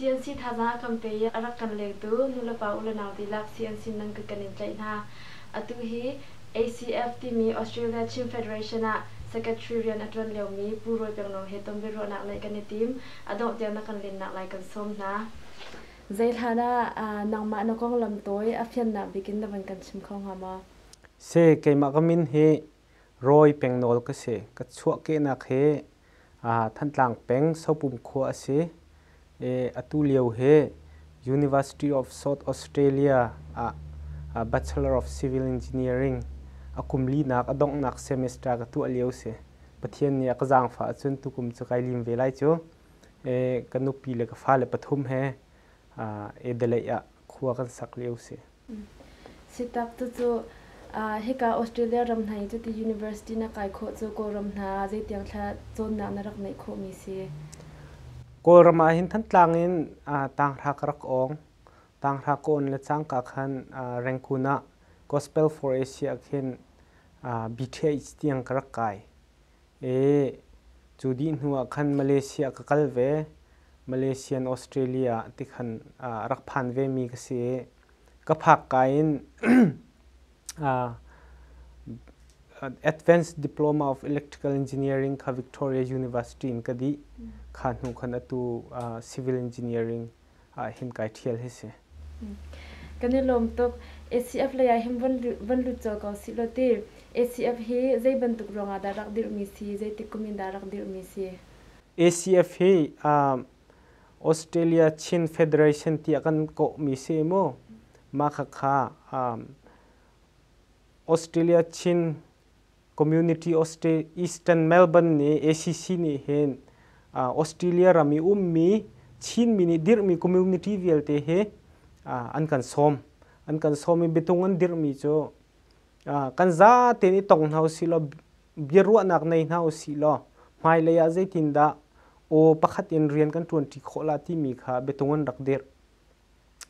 CNC thazaang kan pe i a rak kan lengtu nulepa ulenau dihlak CNC nan ka kan in tlaih hna. Atu hi ACF timi Australia Chin Federation ah Secretary rian a ṭuan liomi Pu Rawi Pengno he tonbiaruahnak ngeih kan i tim. A dongh tiang na kan lennak lai kan sawm hna. Zeihlan ah nangmah na konglam tawi a fiannak bikin na van kan chim kho hnga maw? Si, keimah ka min hi Rawi Peng Nawl ka si. Ka chuahkehnak hi Thantlang peng Sopum khua a si i atu lio hi University of South Australia ah Bachelor of Civil Engineering a kum linak a donghnak semester ka tuah lio si. Pathian nih a ka zaangfah ahcun tukum cu kai lim ve lai cu. ka nupi le ka fale pathum he Adelaide ah khua kan sak lio si. Sitak cucu hika Australia ram hna i cuti university na kai khawh cu Kawlram hna zeitiang thla cawnnak na rak neih khawhmi si? Kawlram ah hin Thantlang in Tanghra ka rak awng. Tanghra ka on le cangka khan Rangkun ah Gospel for Asia ah khin BTH tiang ka rak kai. Ee, cu dih hnu ah khan Malaysia ka kal ve. Malaysian Australia ah ti khan aa rak phan vemi ka si i ka phak kaa in Advanced Diploma of Electrical Engineering kha Victoria University in ka dih. Kha hnu khan atu Civil Engineering ahhin kai ṭhial hi si. Kan i lawm tuk. ACF lei ah hin von lut cio ko sih law ti. ACF hi zei bantuk ruang ah dah rak dirhmi si, zeitik kum in dah rak dirhmi si? ACF hi Australia Chin Federation tiah kan kawhmi si mu. Mah khakha Australia Chin Community Eastern Melbourne nih ACC nih hin Australia ram i ummi Chinmi nih dirhmi community vialte hi an kan sawm. An kan sawm i biatung an dirhmi cu kan za tein i tong hna usihlaw biaruahnak nei hna usihlaw hmailei ah zeitindah aw pakhat in rian kan ṭuanṭi khawh la timi kha biatung an rak dirh.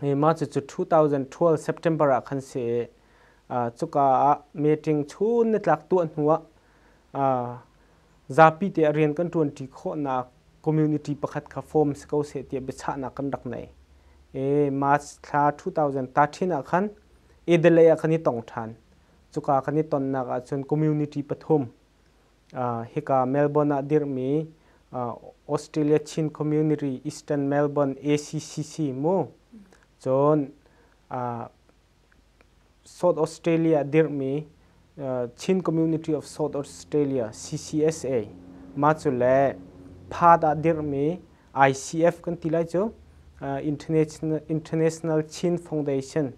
Mah cucu 2012 September ah khan si i cuka ah meeting chun nitlak tuah hnuah zapi te ah rian kan ṭuanṭi khawhnak community pakhat kha form si ko seh tiah biachahnak kan rak nei. March thla 2013 ah khan Adelaide ah kan i tong ṭhan. Cuka kan i tonnak ahcun community pathum hika Melbourne ah dirhmi Australia Chin Community Eastern Melbourne ACCC mu cun South Australia dirhmi Chin Community of South Australia CCSA ma cu le Perth ah dirhmi ICF kan ti lai cu International Chin Foundation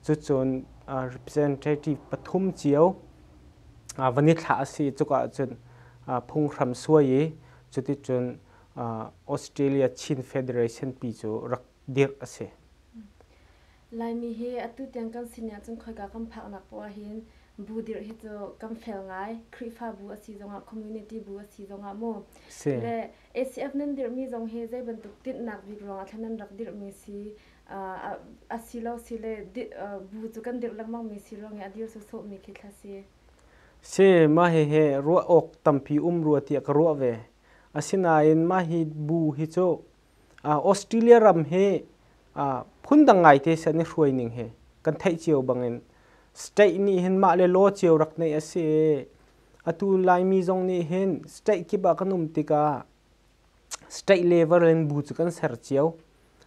Cucun representative pathum cio van i thlah a si i cuka ah cun phunghram suai i cuticun Australia Chin Federation pi cu rak dirh a si. Laimi hi atu tiang kan sin ahcun khoika kan phaknak poah ahhin bu dirh hi cu kan fel ngai. Khrihfabu a si zongah, community bu a si zongah mu. Si. Le ACF nan dirhmi zong hi zei bantuk tinhnak bik ruangah thla nan rak dirhmi si, asilo sile bu cu kan dirh lengmang mi si ruang i a dir sawsawh mi khi thla si. Si, mah hi he ruah awk tampi um rua tiah ka ruah ve. Asinain mah hi bu hi cu Australia ram hi phundang ngaite san i hruai ning hi kan theih cio bangin state nih hin mah le law cio rak neih a si i atu Laimi zong nih hin state kip ah kan um tikah State level in bu cu kan ser cio.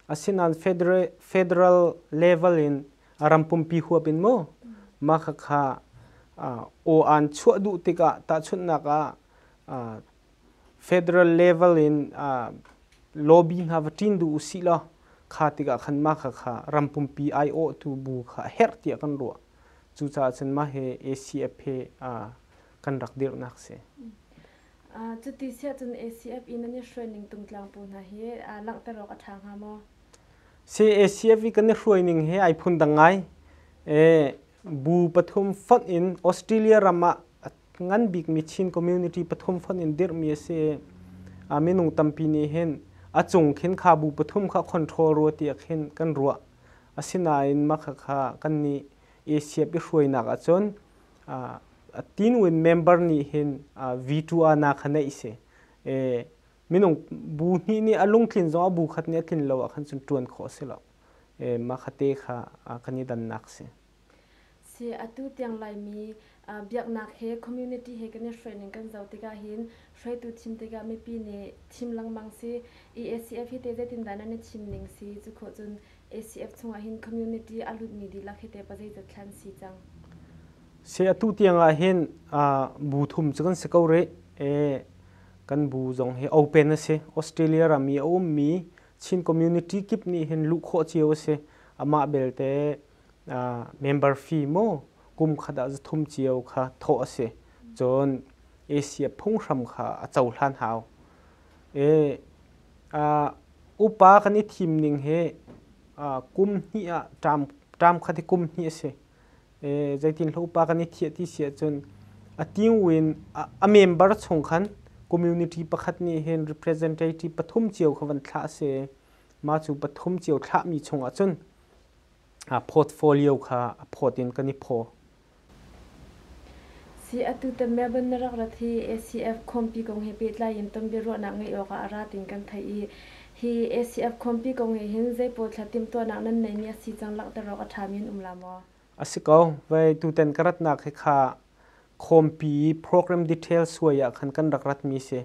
Asinain federal, federal level in ram pumpi huap in maw mah khakha aw aan chuah duh tikah tahchunhnak ah federal level in lobby hna va ṭin duh usih law kha tikah khan mah khakha ram pumpi aiawhtu bu kha a herh tiah kan ruah. Cucaah cun mah hi ACF hi kan rak dirhnak a si. Cuti siah cun ACF i nan i hruaining tungtlang pawl hna hi langhter awk a ṭha hnga maw? Si ACF i kan i hruaining hi ai phundang ngai. Bu pathum fonh in Australia ram ah ngan bikmi Chin community pathum fonh in dirhmi a si i minung tampi nih hin a cung khin kha bu pathum kha control rua tiah khin kan ruah. Asinain mah khakha kannih ACF i hruainak ahcun tinwe member nih hin V2 ana kha neih si minung bu hnih nih a lungtlin zong a bu khat nih a tlin lo ahkhan cun ṭuan khawh a si lo mah kha te kha kan i dannak si. Si atu tiang Laimi biaknak he community he kan i hruaining kan zoh tikah hin hruaitu thim tikah mipi nih thim lengmang si i ACF hi te zeitindah nan i thim ning si cu khawh cun ACF chungah hin community a lutmi dihlak hi te pa zeizat thlan si cang. Se atu tiang ah hin bu thum cu kan si ko rih. E, kan bu zong hi open a si. Australia ram i a ummi Chin community kip nih hin luh khawh cio a si. Amah belte member fee maw kum khat ah zathum cio kha thawh a si. Cun Asia phunghram kha a cohlan hau. E, upa kan i thim ning hi kum hnih ah, ṭam khat hi kum hnih a si. zeitinhlo pa kan i thiah ti si ahcun a tiung in a member chung khan community pakhat nih hin representative pathum cio kha van thlah a si i mah cu pathum cio thlahmi chungah cun portfolio kha a phawt in kan i phaw. Si atu tan Melbourne na rak rat hi ACF khawmpi kong he pehtlai in ton biaruahnak ngeih awkah a ra tin kan theih i Hi ACF khuampi kong nih hin zeipawl thla timhtuahnak nan neihmi a si cang langhter awk a ṭhami an um la maw? A si ko. Vei, tutan ka ratnak hi kha khuampi program detail suai ah khan kan rak ratmi si.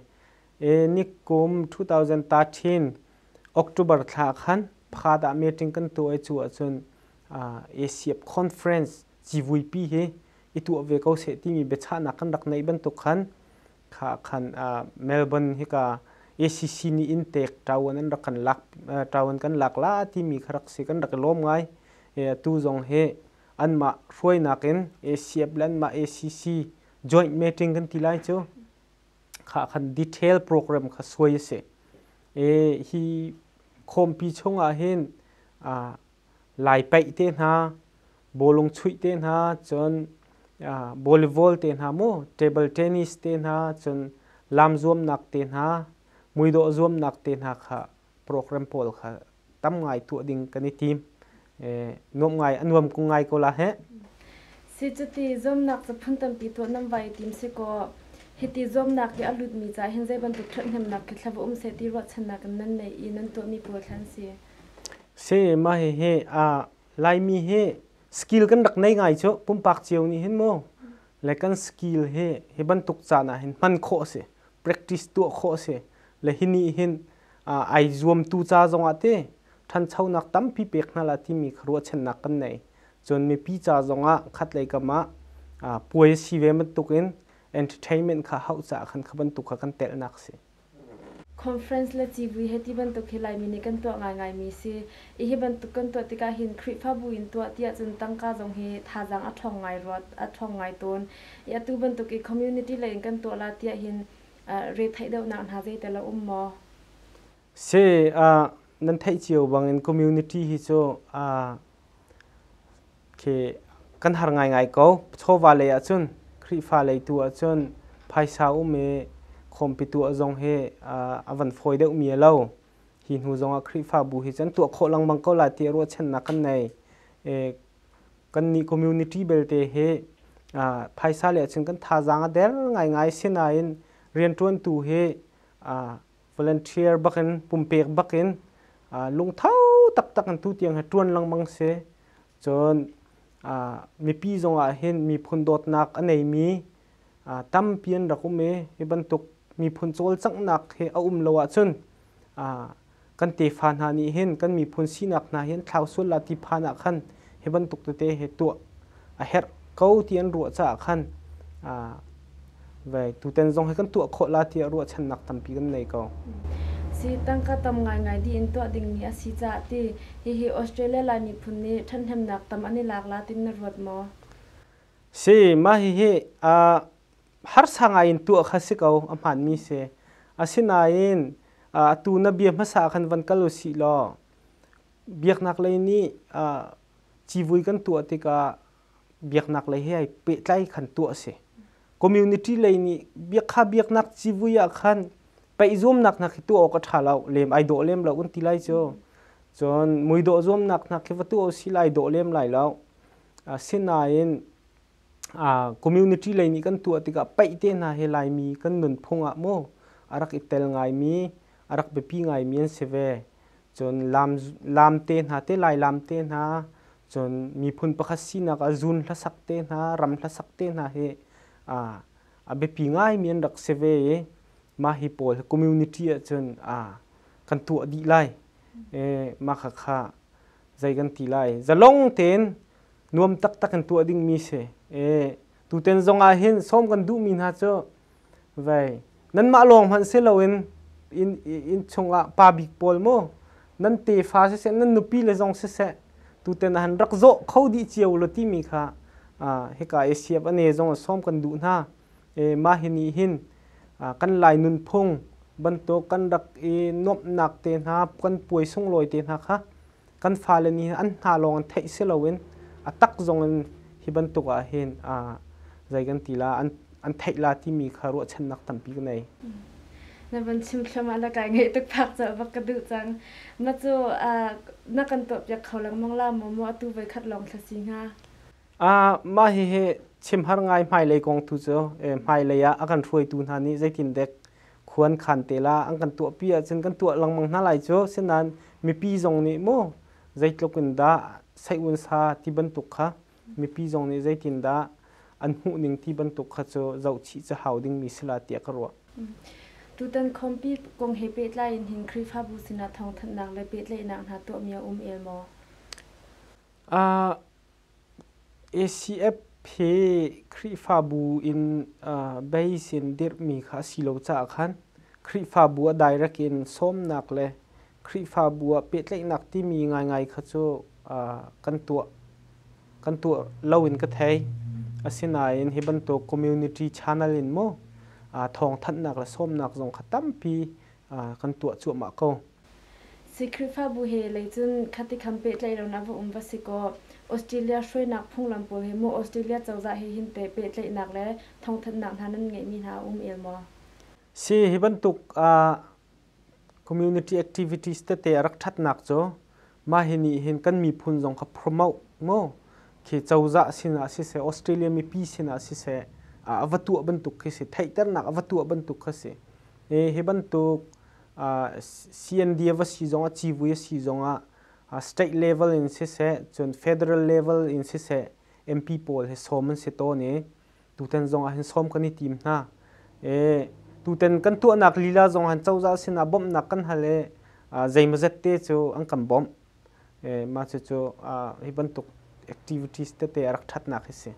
E, nikum 2013 October thla ah khan Phaat ah meeting kan tuah i cu ahcun ACF conference civuipi hi i tuah ve ko seh timi biachahnak kan rak neih bantuk khan kha khan uh, Melbourne hika ACC ni in tek tawan an rak kan lak uh, tawan kan lak la timi kha rak si kan rak lom ngai e, tu zong he anmah hruainak in ACF le anmah ACC joint meeting kan ti lai chu kha khan detail program kha suai se e hi khompi chunga hin uh, lai paih te hna, bawlung chuih te hna, cun volleyball te hna mu, table tennis te hna, cun lam zuamnak te hna, muidawh zuamnak te hna kha program pawl kha tam ngai tuah ding kan i tim. nuam ngai, a nuam ko ngai ko la he. Si cuti zuamnak cu phang tampi tuah nam vai tim si kaw, hiti zuamnak hi a lutmi caah hin zei bantuk ṭhathnemnak khi thlava um seh ti ruahchannak in nan nei i nan tuahmi pawl thla an si. Se mah hihi aa Laimi hi skill kan rak nei ngai cu pumpak cio nih hin mu le kan skill hi hi bantuk caan ah hin hman khawh a si practice tuah khawh a si le hi nih hin ai zuamtu ca zong ah ti ṭhanchonak tampi pek hna la timi kha ruahchannak kan nei cun mipi ca zong ah khatlei kam ah puai a si ve bantuk in entertainment kha hauh caah khan kha bantuk kha kan telhnak a si. Conference le civui he ti bantuk hi Laimi nih kan tuah ngaingaimi si i hi bantuk kan tuah tikah hin Khrihfabu in tuah tiah cun tangka zong hi thazaang a ṭhawng ngai ruat a ṭhawng ngai tawn i atu bantuk i community lei in kan tuah la tiah hin retheih deuhnak hna zeital a um maw? Si, nan theih cio bangin community hi cu khi kan har ngaingai ko. Chawva lei ahcun Khrihfa lei tu ahcun phaisa um i khawmpi tuah zong hi a van fawi deuhmi a lo. Hi hnu zongah Khrihfabu hi can tuah khawh lengmang ko lai tiah ruahchannak kan nei. Kannih community belte hi phaisa le ahcun kan thazaang a der ngaingai. Sinain rianṭuantu hi volunteer bakin pumpek bakin lungtho taktak in tutiang hi ṭuan lengmang si cun mipi zongah hin miphun dawtnak a neimi tampi an rak um i hi bantuk miphun cawlcanghnak hi a um lo ahcun kan tefa hna nih hin kan miphun sinak hna hi an thlau sual lah ti phan ah khan hi bantuk tete hi tuah a herh ko ti an ruah caah khan aa ve tutan zong hi kan tuah khawh la tiah ruahchannak tampi kan nei ko. Si tangka tam ngaingai dih in tuah dingmi a si caah ti hihi Australia Lai miphun nih ṭhathnemnak tam an i lak la tin na ruat maw? Si, mah hihi aa harsa ngai in tuah kha si ko a hmaanmi si. Asinain atu na bia hmasa khan van kal u sih law biaknaklei nih civui kan tuah tikah biaknak lei he ai pehtlai khan tuah a si. Community lei nih biak kha biaknak civui ah khan peih zuamnak hna khi tuah awk a ṭha lo, lem ai dawh lem lo kan ti lai cu. Cun mui dawh zuamnak hna khi va tuah u sih lai dawh lem lai lo. Asinain community lei nih kan tuah tikah peih te hna he Laimi kan nunphung ah maw a rak i tel ngaimi, a rak biapi ngaimi an si ve. cun lam lam te hna te lai lam te hna cun miphun pakhat sinak a zun hlasak te hna ram hlasak te hna hi a a biapi ngaimi an rak si ve i mah hi pawl hi community ah cun a kan tuah dih lai e mah kha kha zei kan ti lai zalong tein nuam taktak kan tuah dingmi si e tuten zong ah hin som kan duhmi hna cu vei nanmah lawng hmanh si loin inn inn chungah pa bik pawl maw nan tefa siseh nan nupile zong siseh tutan han rak zawh kho dih cio ulaw timi kha hika i siap a ne zong a sawm kan duh hna i mah hi nih hin kan lai nunphung bantuk kan rak i nuamhnak te hna kan puai sunglawi te hna kha kan fale nih an hna lawng an theih si loin a tak zong in hi bantuk ah hin zei kan ti la an theih la timi kha ruahchannak tampi ka nei. Na van chimthluam ah na kai ngai tuk phak ca bak ka duh cang. Na cu na kan tuahpiak kho lengmang la maw mu atu voi khat lawng thlasi hnga. Mah hihi chimhar ngai hmailei kong tu cu hmailei ah a kan hruaitu hna nih zeitin dek khuan khan te la an kan tuah pi ahcun kan tuah lengmang hna lai cu sinain mipi zong nih maw zeitluk in dah saihun sa ti bantuk kha mipi zong nih zeitin dah an hmuh ning ti bantuk kha cu zohchih cu hau dingmi si la tiah ka ruah. Tutan khawmpi kong he pehtlai in hin Khrihfabu sinah thawngthanhnak le pehtlaihnak hna tuahmi a um el maw? Uh, ACF he Khrihfabu in base in dirhmi kha a si lo caah khan Khrihfabu ah direct in sawmnak le Khrihfabu ah pehtlaihnak timi ngaingai kha cu kan tuah kan tuah lo in ka thei. Asinain hi bantuk community channel in maw thawngthanhnak le sawmnak zong kha tampi kan tuah cuahmah ko. Si Khrihfabu he lei cun khatikham pehtlaihlonak va um va si kaw Australia hruainak phunglam pawl he maw Australia cozah he hin teh pehtlaihnak le thawngthanhnak hna nan ngeihmi hna a um el maw? Si hi bantuk uh, community activities tete a rak thatnak cu mah hi nih hin kan miphun zong kha promote mo khi cozah sinah siseh Australia mipi sinah siseh a va tuah bantuk khi si theihternak a va tuah bantuk khi si e hi bantuk CND va si zong ah civui a si zong ah state level in siseh cun federal level in siseh MP pawl hi sawm an si tawn i tutan zong ah hin sawm kan i tim hna i tutan kan tuahnak lila zong han cozah sin ah bawmhnak kan hal i zeimazet te cu an kan bawmh mah cucu hi bantuk activities tete a rak ṭhatnak hi si.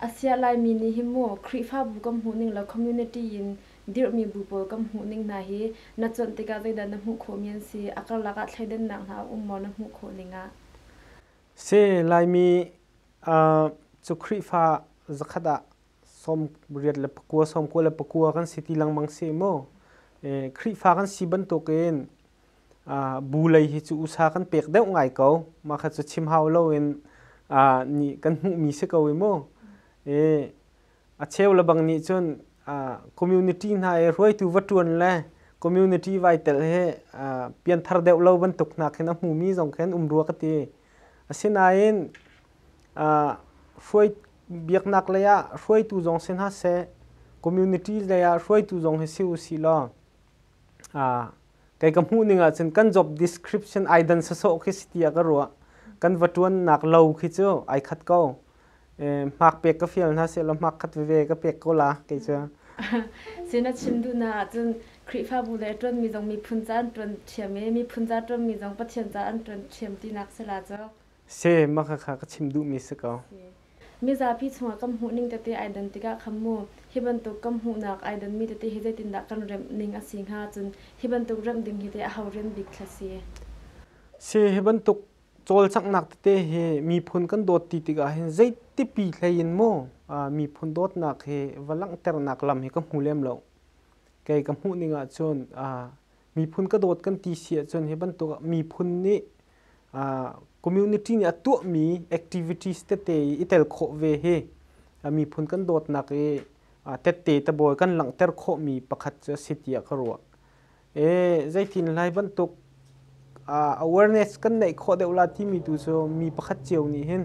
A siah Laimi nih hin mu Khrihfabu kan hmuhning le community in dirhmi bu pawl kan hmuhning hna hi na cuanh tikah zeidah na hmuh khawhmi an si, a karlak ah thleidannak hna a um maw na hmuh khawh ning ah? Si, Laimi cu Khrihfa zakhat ah sawm riat le pakua, sawm kua le pakua kan si ti lengmang si mu. Khrihfa kan si bantuk in Bu lei hi cu usa kan pek deuh ngai ko. Mah kha cu chim hau loin kan hmuhmi si ko i mu. I a cheu le bang nih cun community hna i hruaitu va ṭuan le community vai tel hi pianthar deuh lo bantuk hna khin a hmumi zong khin um rua ka ti. Asinain biaknak lei ah hruaitu zong si hna seh, community lei ah hruaitu zong hi si usih law kei ka hmuh ning ahcun kan job description ai dan sawsawh khi si tiah ka ruah kan va ṭuannak lo khi cu ai khat ko hmak pek ka fial hna sehlaw hmak khat veve ka pek ko la kei cu si na chim duhna ahcun Khrihfabu le ṭuanmi zong miphun ca an ṭuan ṭhiam i miphun ca ṭuanmi zong Pathian ca an ṭuan ṭhiam tinak si la cu Se maka kha ka chim duhmi si ko. Mizapi chungah kan hmuhning tete ai dan tikah kham mu. Hi bantuk kan hmuhnak ai danmi tete hi zeitindah kan remh ning a si hnga cun hi bantuk remh ding hi teh a ho rem bik thla si? Se hi bantuk cawlcanghnak tete hi miphun kan dawt ti tikah hin zei tipi hlei in maw miphun dawtnak hi va langhternak lam hi ka hmu lem lo. Kei ka hmuh ning ahcun miphun ka dawt kan ti si ahcun hi bantuk ah miphun nih community nih a tuahmi activities tete i tel khawh ve hi miphun kan dawtnak i tette tabawi kan langhter khawhmi pakhat cu a si tiah ka ruah. E, zeitin lai bantuk awareness kan neih khawh deuh la timi tu cu mi pakhat cio nih hin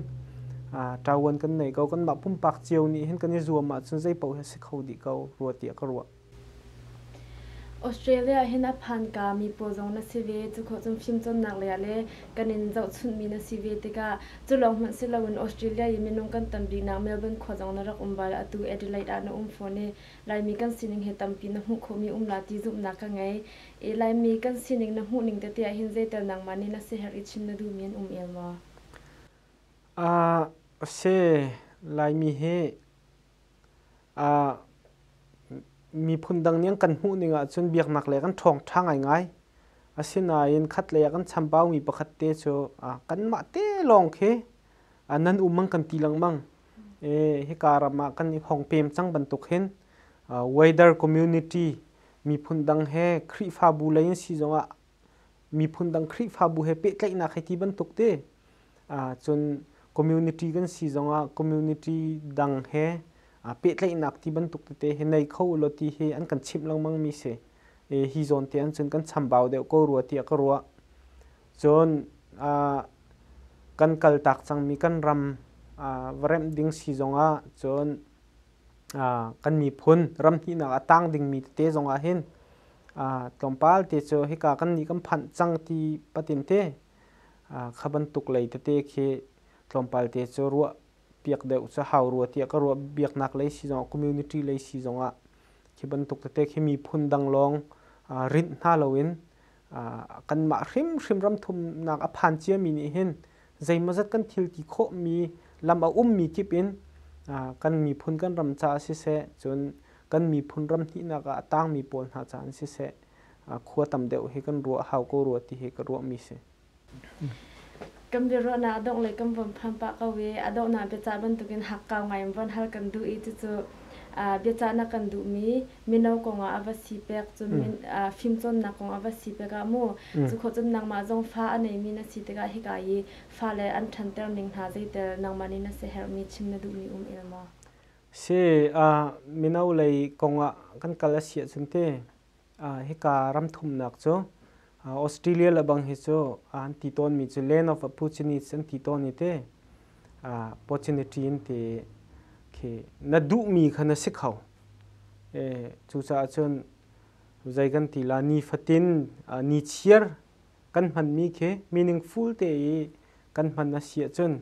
ṭavuan kan nei ko, kanmah pumpak cio nih hin kan i zuam ahcun zei paoh hi a si kho dih ko rua tiah ka ruah. australia ah hin a phanka mi pawl zong na si ve cukhawh cun fimcawnnak lei ah le kan in zohchunhmi na si ve tikah culawng hmanh si loin australia i minung kan tam biknak melbourne khua zong na rak um bal atu adelaide ah na um fawn i laimi kan sining hi tampi na hmuh khawhmi um la ti zumhnak ka ngei i laimi kan sining na hmuhning tete ah hin zeital nangmah nih na siherh i chim na duhmi an um el maw a si laimi hi miphun dang nih an kan hmuh ning ahcun biaknak lei kan ṭhawng ṭha ngaingai. Asinain khatlei ah kan chambaumi pakhat te cu kanmah te lawng khi nan um an kan ti lengmang. Hika ram ah kan i hong pem cang bantuk hin weather community miphun dang he Khrihfabu lei an si zongah miphun dang Khrihfabu he pehtlaihnak hi ti bantuk te cun community kan si zongah community dang he pehtlaihnak ti bantuk tete hi nei kho ulaw ti hi an kan chimh lengmang mi si. Hi zawn te an cun kan chambau deuh ko rua tiah ka ruah. Cun kan kal tak cangmi kan ram va remh ding si zongah cun kan miphun ram hnihnak a tang dingmi tete zong ah hin tlawmpal te cu hika kan nih kan phanh cang ti patin te kha bantuk lei tete khi tlawmpal te cu ruah piak deuh cu hau rua tiah ka ruah biaknak lei si zong ah community lei si zong ah khi bantuk tete khi miphun dang lawng rinh hna loin kanmah hrimhrim ramthumnak a phan ciami nih hin zeimawzat kan thil ti khawhmi lam a ummi kip in kan miphun kan ram caah siseh cun kan miphun ram hnihnak ah a tangmi pawl hna caah siseh khua tam deuh hi kan ruah hau ko rua ti hi ka ruahmi si. kan biaruahnak a dongh le kan von phan pah ko i a donghnak biacah bantukin hakkau ngai in von hal kan duh i cucu biacahnak kan duhmi mino kongah a va si pek cun mm. fimcawnnak kong a va si pek ah mu mm. cu kho cun nangmah zong fa a neimi na si tikah hika i fa le an ṭhanter ning hna zeitel nangmah nih na siherhmi chim na duhmi um il maw si uh, mino lei kongah kan kal a si ahcun te Hika ram thumnak cu Australia le bang hi cu an ti tawnmi cu land of opportunities an ti tawn i ti opportunity an ti. Khi na duhmi kha na si kho. Cucaah cun zei kan ti la ni fatin ni chiar kan hmanmi khi meaningful te i kan hman a si ahcun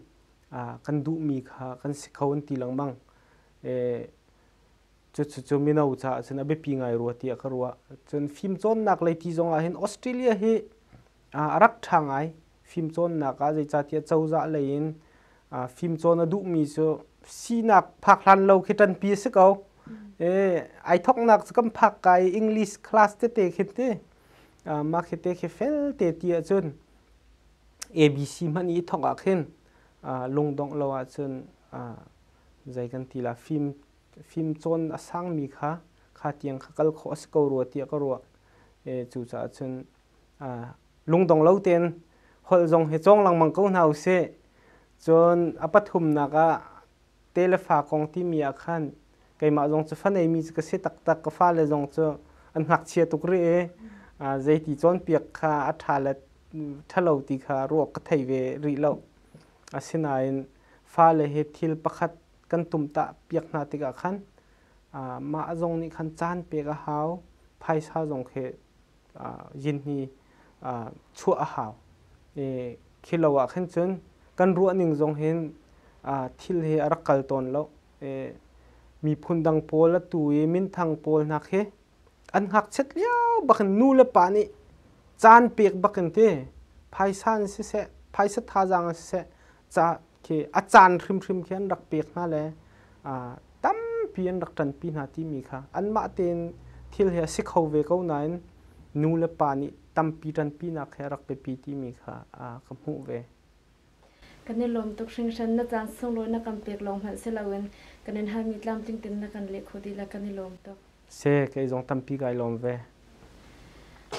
kan duhmi kha kan si kho an ti lengmang. Cucu mino caah cun a biapi ngai rua tiah ka ruah. Cun fimcawnnak lei ti zong ahhin Australia hi a rak ṭha ngai. Fimcawnnak ah zeicatiah cozah lei in fimcawn a duhmi cu sinak phak hlan lo khi ṭanpi a si ko. Ai thawknak cu kan phak ka i English class tete khi ti. Mah khi te khi felte ti ahcun ABC hmanh i thawk ahkhin lungdongh lo ahcun zei kan ti la, fim fimcawn a sangmi kha kha tiang kha kal khawh a si ko rua tiah ka ruah. E, cucaah cun lungdong lo tein holh zong hi cawng lengmang ko hna usih. Cun a pathumnak ah te le fa kong timi ah khan keimah zong cu fa neimi cu ka si taktak. Ka fale zong cu an ngakchia tuk rih i zeiti cawnpiak kha a ṭha le ṭhalo ti kha ruak ka thei ve rih lo. Asinain fale hi thil pakhat kan tumtah piak hna tikah khan mah zong nih khan caan pek a hau phaisa zong khi yin hi chuah a hau i khi lo ah khin cun kan ruah ning zong hin thil hi a rak kal tawn lo i miphun dang pawl a tu i minthang pawl hna khi an ngakchiat lio bakin nu le pa nih caan pek bakin ti phaisa in siseh phaisa thazaang in siseh ca khi a caan hrimhrim khi an rak pek hna le tampi an rak ṭanpi hna timi kha anmah tein thil hi a si kho ve ko nain nu le pa nih tampi ṭanpinak he a rak biapi timi kha ka hmuh ve. Kan i lawm tuk hringhran. Na caan sunglawi na kan pek lawng hmanh si loin kan in halmi tlamtling tein na kan leh kho ti la kan i lawm tuk. Se kei zong tampi kai lawm ve.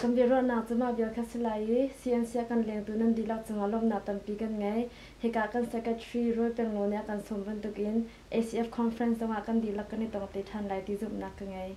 Kan biaruahnak cu mah vial kha si lai i CNCA kan lengtu nan dihlak cungah lawmhnak tampi kan ngei. Hika kan Secretary Roy Peng Ngo nih a kan sawm bantukin ACF Conference zongah kan dihlak kan i tong te ṭhan lai ti zumhnak ka ngei.